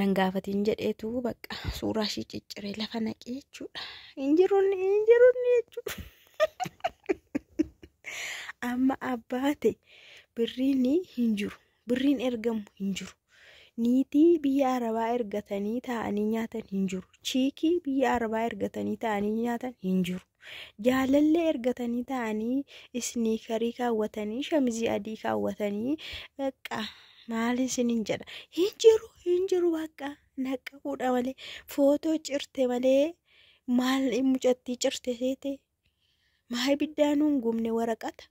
nan gaafatiin jedheetu bakka suuraa ishii cicciree lafa naqee jechuudha. Hin jirunni hin jirunni jechuudha. Amma abbaate birriin hin jiru. Birriin ergamu hin jiru. Niitii biyya arabaa ergatanii taa'anii nyaatan hin jiru. Chiikii biyya arabaa ergatanii taa'anii nyaatan hin jiru. jaalallee ergatanii ta'anii isniikarii kaawwatanii shamizii adii kaawwatanii bakka maaliin sinin jedha hin jiru hin jiru bakka naqqa fuudha malee footoo cirte malee maal mucattii cirte seete maa ibiddaanuun gubne waraqata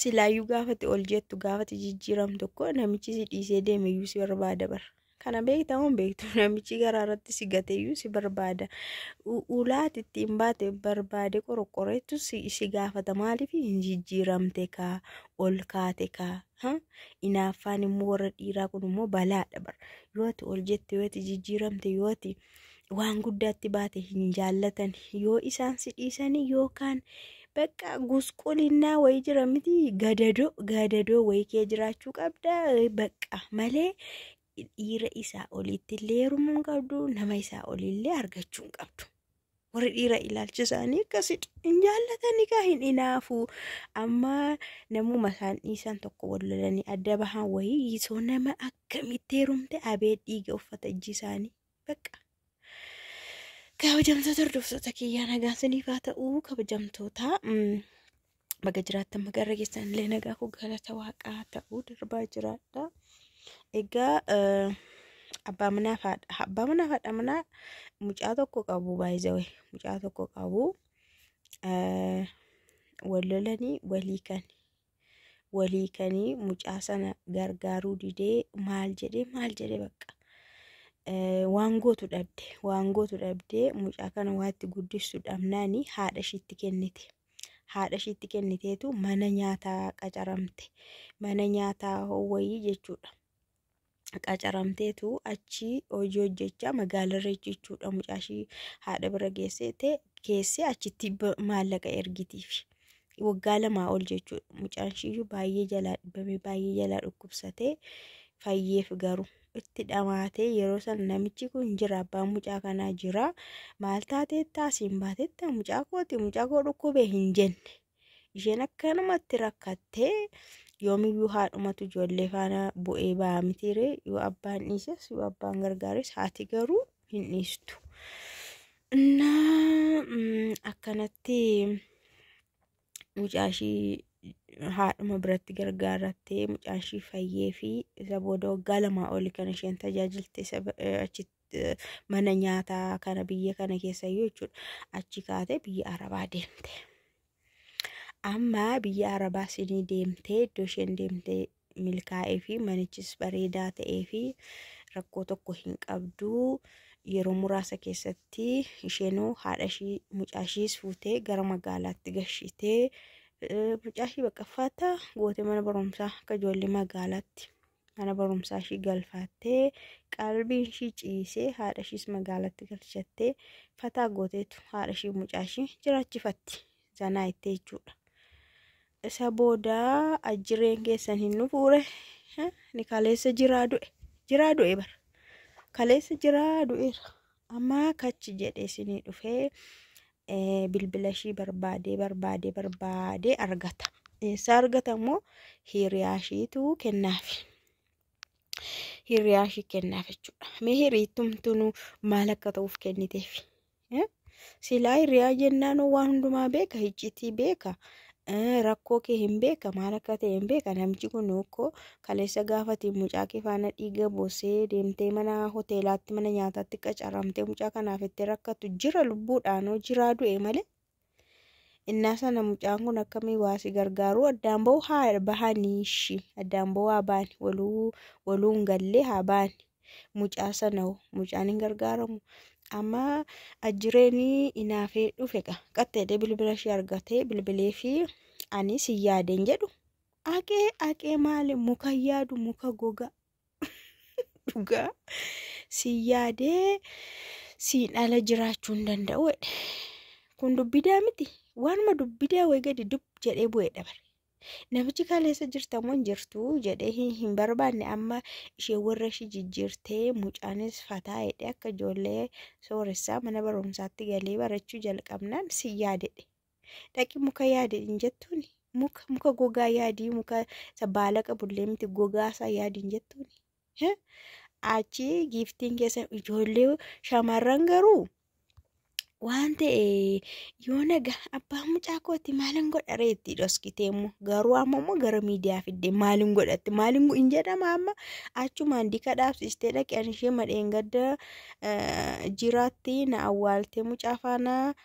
Silaayyuu gaafati ol jettu gaafati jijjiiram tokko namichi si dhiisee deemeyyuu si barbaada bara. Kana beektaa moo hin beektu namichi garaa irratti si gateyyuu si barbaada. U- Ulaati ittiin baate barbaade qoroqqoreettu si, si gaafata maaliif hin jijjiiramte kaa ol kaate kaa. Ha? Inaaffaan immoo warra dhiiraa kun immoo balaadha bara. Yoo ati ol jette yoo ati jijjiiramte yoo ati waan guddaatti baate hin jaallatan yoo isaan si dhiisanii yookaan bakka gusqulinnaa wayii jira miti gadadoo gadadoo wayii kee jiraachuu qabda bakka malee dhiira isaa oliitti illee heerumuu hin qabdu nama isaa olii illee argachuu hin qabdu. warri dhiira ilaalchi isaanii akkasidha. Hin jaallatan egaa hin inaafu. Amma namuma isaan dhiisan tokko wal lolanii adda bahan wayii yisoo nama akkamitti heerumte abee dhiiga uffata ijji isaanii. Bakka. Kabajamtoota hordoftoota kiyyaa nagaan siniif haa ta'u kabajamtoota. mm, Baga jiraattan magarra keessan illee nagaa koo galata waaqaa ta'uu darbaa jiraadha. Egaa eh, abbaa manaa fi haadha abbaa manaa fi haadha manaa mucaa tokko qabu baay'ee mucaa tokko qabu eh, wal lolanii walii kan walii kanii mucaa sana gargaaruu didee maal jedhee maal jedhee bakka. Eh, waan gootu dhabde waan gootu dhabdee mucaa kana waatti guddistu dhabnaani haadha ishiitti kennite haadha ishiitti kenniteetu mana nyaataa qacaramte mana nyaataa wayii jechuudha qacaramteetu achi hojii hojjechaa magaalarra jechuudha mucaa ishii haadha bira geesseete keessee achitti ba- maallaqa ergitiif waggaa lamaa ol jechuudha mucaan ishiiyyuu baay'ee jalaa dhibame baay'ee jalaa dhukkubsatee fayyeef garuu. itti dhamaatee yeroo sana namichi kun jira abbaa mucaa kanaa jira maal taatee taasiin baateetta mucaa kooti mucaa koo dhukkubee hin jenne isheen akkanumatti rakkattee yoomiyyuu haadhumatu ijoollee faana bu'ee ba'aa mitiiree yoo abbaan dhiises yoo abbaan gargaares haati garuu hin dhiistu. Innaa akkanatti mucaa ishii haadhuma biratti gargaarattee mucaan ishii fayyee fi isa booda waggaa lamaa oli kan isheen tajaajilte isa ba- eh, achi eh, mana nyaataa kana biyya kana keessa iyyuu jechuudha achi kaatee biyya arabaa deemte. Amma biyya arabaa isinii deemtee iddoo isheen deemtee milkaa'ee fi manichis bareedaa ta'ee fi rakkoo tokko hin qabdu yeroo muraasa keessatti isheenoo haadha ishii mucaa ishiis fuutee gara magaalaatti gashitee mucaa ishii bakka faataa gootee mana barumsaa akka ijoollee magaalaatti mana barumsaa ishii galfaattee qalbiin ishii ciisee haadha ishiis magaalaatti galchattee fataa gooteetu haadha ishii mucaa ishii jiraachifatti zanaa ittee jechuudha. Isa booda ajjireen keessan hin dhufuure ni kaleessa jiraa du'e jiraa du'e bara kaleessa jiraa du'eera amma kachi jedhe isinii dhufee eh, bilbila ishii barbaadee barbaadee barbaadee argata eessa argata immoo hiriyaa ishiitu kennaafi. hiriyaa ishii kennaaf jechuudha. Mee hiriittumtuun maal akka ta'uuf kenniteef? Silaa hirriyaa jennaan waan hundumaa beeka hiccitii beeka rakkoo kee hin beeka maal akka ta'e hin beeka namichi kun okkoo kaleessa gaafati mucaa kee faana dhiiga boosee deemtee mana hoteelaatti mana nyaataatti qacaramtee mucaa kanaaf itti rakkatu jira lubbuudhaanoo jiraa du'e malee Innaa sana mucaan kun akkamii waa si gargaaruu addaan ba'uu haa bahanii ishii addaan ba'uu haa baani waluu waluu hin gallee haa baani mucaa sana hoo mucaan hin gargaaramu amma ajjireenii inaafee dhufe qa qaxxeedhee bilbila ishee argatee bilbilee fi ani si yaadeen jedhu aqee aqee maali muka yaadu muka gogaa. dhugaa si yaadee siin ala jiraachuu hin danda'u jedhe. Kun dubbidaa miti. Waanuma dubbidaa wayii gadi dub jedhee bu'ee dabare. Namichi kaleessa jirtamoo hin jirtu jedhee hin hin barbaanne amma ishee warra ishee jijjiirtee mucaanis fataa jedhee akka ijoollee sooressaa mana barumsaatti galee barachuu jalqabnaan si yaadedhe. dhaqi muka yaadi hin jettuuni muka muka gogaa yaadii muka isa baala qabullee miti gogaa isaa yaadi hin jettuuni Heh? achi giiftiin keessa ijoollee shamarran garuu waan ta'e yoo naga abbaa mucaa kooti maalin godha reetti dhoskitee immoo garuu amma immoo gara miidiyaa fidde maalin godhatti maalin hin jedhama amma achumaan dika dhaabsistee dhaqan ishee madheen gadda jiraatti na awwaaltee mucaa faana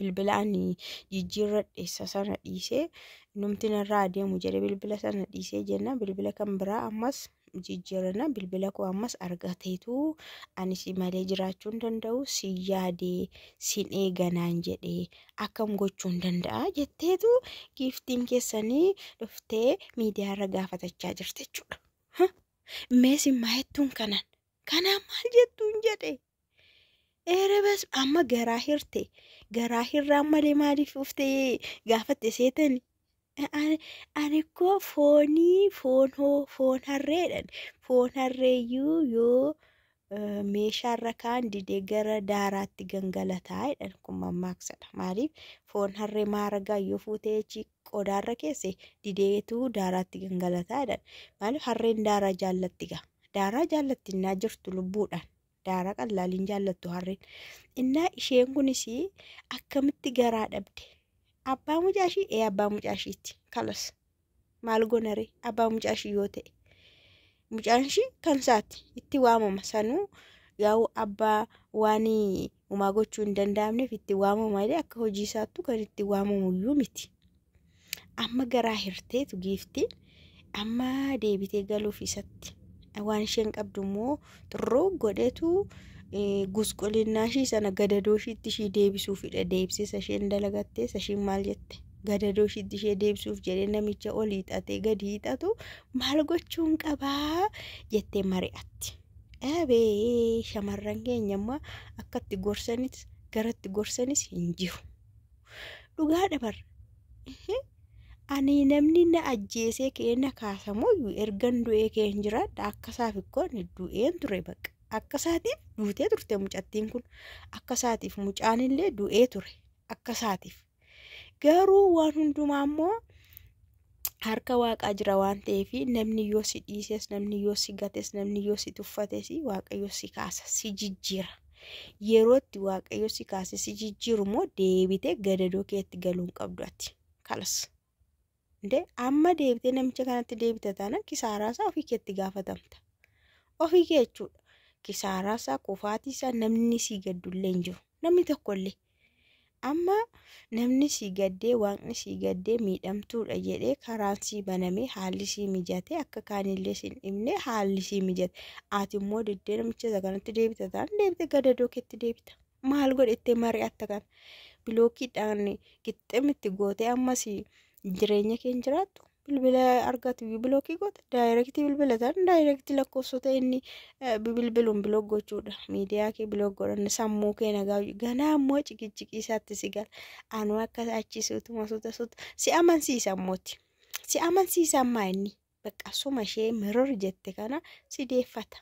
bilbila ani jijjiirradhe isa sana dhiisee numti narraa adeemu jedhe bilbila sana dhiisee jenna bilbila kan biraa ammas jijjiirranna bilbila koo ammas argateetu ani si malee jiraachuu hin danda'u si yaadee sin eeganaan jedhee akkam gochuu hin danda'a jetteetu giiftiin keessanii dhuftee miidiyaarra gaafatachaa jirte jechuudha. Meesi maayettuun kanan kanaan maal jettuun jedhe Erebas amma garaa hirte garaa hirraan malee maaliif uftee gaafatte seetani. Ani koo foonii foon hoo foon harreedhan foon harreeyyuu yoo meeshaarra kaan dide gara daaraatti gangalataa jedhan kun mammaaksadha maaliif foon harree maaragaa yoo fuutee achi qodaarra keesse dideetuu daaraatti gangalataa jedhan maaliif harreen daaraa jaallatti gaa daaraa jaallatti innaa jirtu lubbuudhaan daara qallaaliin jaallattu harreen innaa isheen kunis akkamitti garaa dhabde abbaa mucaashii ee abbaa mucaashiitti kalas maal gonare abbaa mucaashii yoo ta'e mucaanshii kan isaati itti waamama sanuu yaa'u abbaa waan umaa gochuu hin danda'amneef itti waamama malee akka hojii isaattu kan itti waamamu iyyuu miti. Amma garaa hirteetu giifti amma deebitee galuuf isatti waan isheen qabdu immoo xurroo godhetu gusqulinnaa ishii sana gadadoo ishiitti ishii deebisuuf hidha deebisisa isheen dalagattee ishiin maal jette gadadoo ishiitti ishee deebisuuf jedhee namicha ol hiixatee gadi hiixatu maal gochuun qabaa jettee mari'atti. Abee shamarran keenya amma akkatti gorsanis garatti gorsanis hin jiru. dhugaadha bar ani namni na ajjeesee ka'ee na kaasamoo ergan du'ee ka'ee hin jiraadha akkasaaf ikkoo ani du'een ture bakka akkasaatiif duutee turte mucattiin kun akkasaatiif mucaan illee du'ee ture akkasaatiif garuu waan hundumaa immoo harka waaqaa jira waan ta'eef namni yoo si dhiises namni yoo si gates namni yoo si tuffates waaqayyo si kaasa si jijjiira yerootti waaqayyo si kaase si jijjiiru immoo deebitee gadadoo keetti galuu hin qabdu ati kalas Indee amma deebitee namicha kanatti deebita taanaan kisaaraa isaa ofii keetti gaafatamta ofii kee jechuudha kisaaraa isaa kufaatii isaa namni sii gaddullee hin jiru namni tokkollee Amma namni sii gaddee waaqni sii gaddee miidhamtuudha jedhee karaan sii banamee haalli sii mijate akka kaanillee sin dhibne haalli sii mijate ati immoo diddee namicha isa kanatti deebita taan deebite gadadoo keetti deebita maal godhette mari'atta kana bilookiidhaan qixxeemitti gootee ammas jireenya keen jiraattu bilbila argatu bilookii goota daayirektii bilbila ta'an daayirektii lakkoofsota inni bilbiluun bilook gochuudha miidiyaa kee bilook godhan sammuu kee nagaa ganaa ammoo cikichikii isaatti si gala anuu akka achi suutuma suuta suuta si amansiisa ammooti si amansiisa ammaa inni bakka suma ishee miror jette kana si deeffata.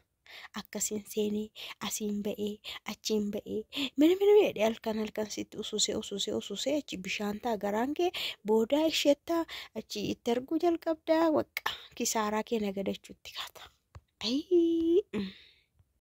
akkasin seenee asiin ba'ee achiin ba'ee mini mini jedhe halkan halkan sitti ususee ususee ususee achi bishaan ta'a garaan kee boodaa isheettaa achi itti arguu jalqabdaa waqqa kisaaraa kee nagadachuutti kaata. Ayii.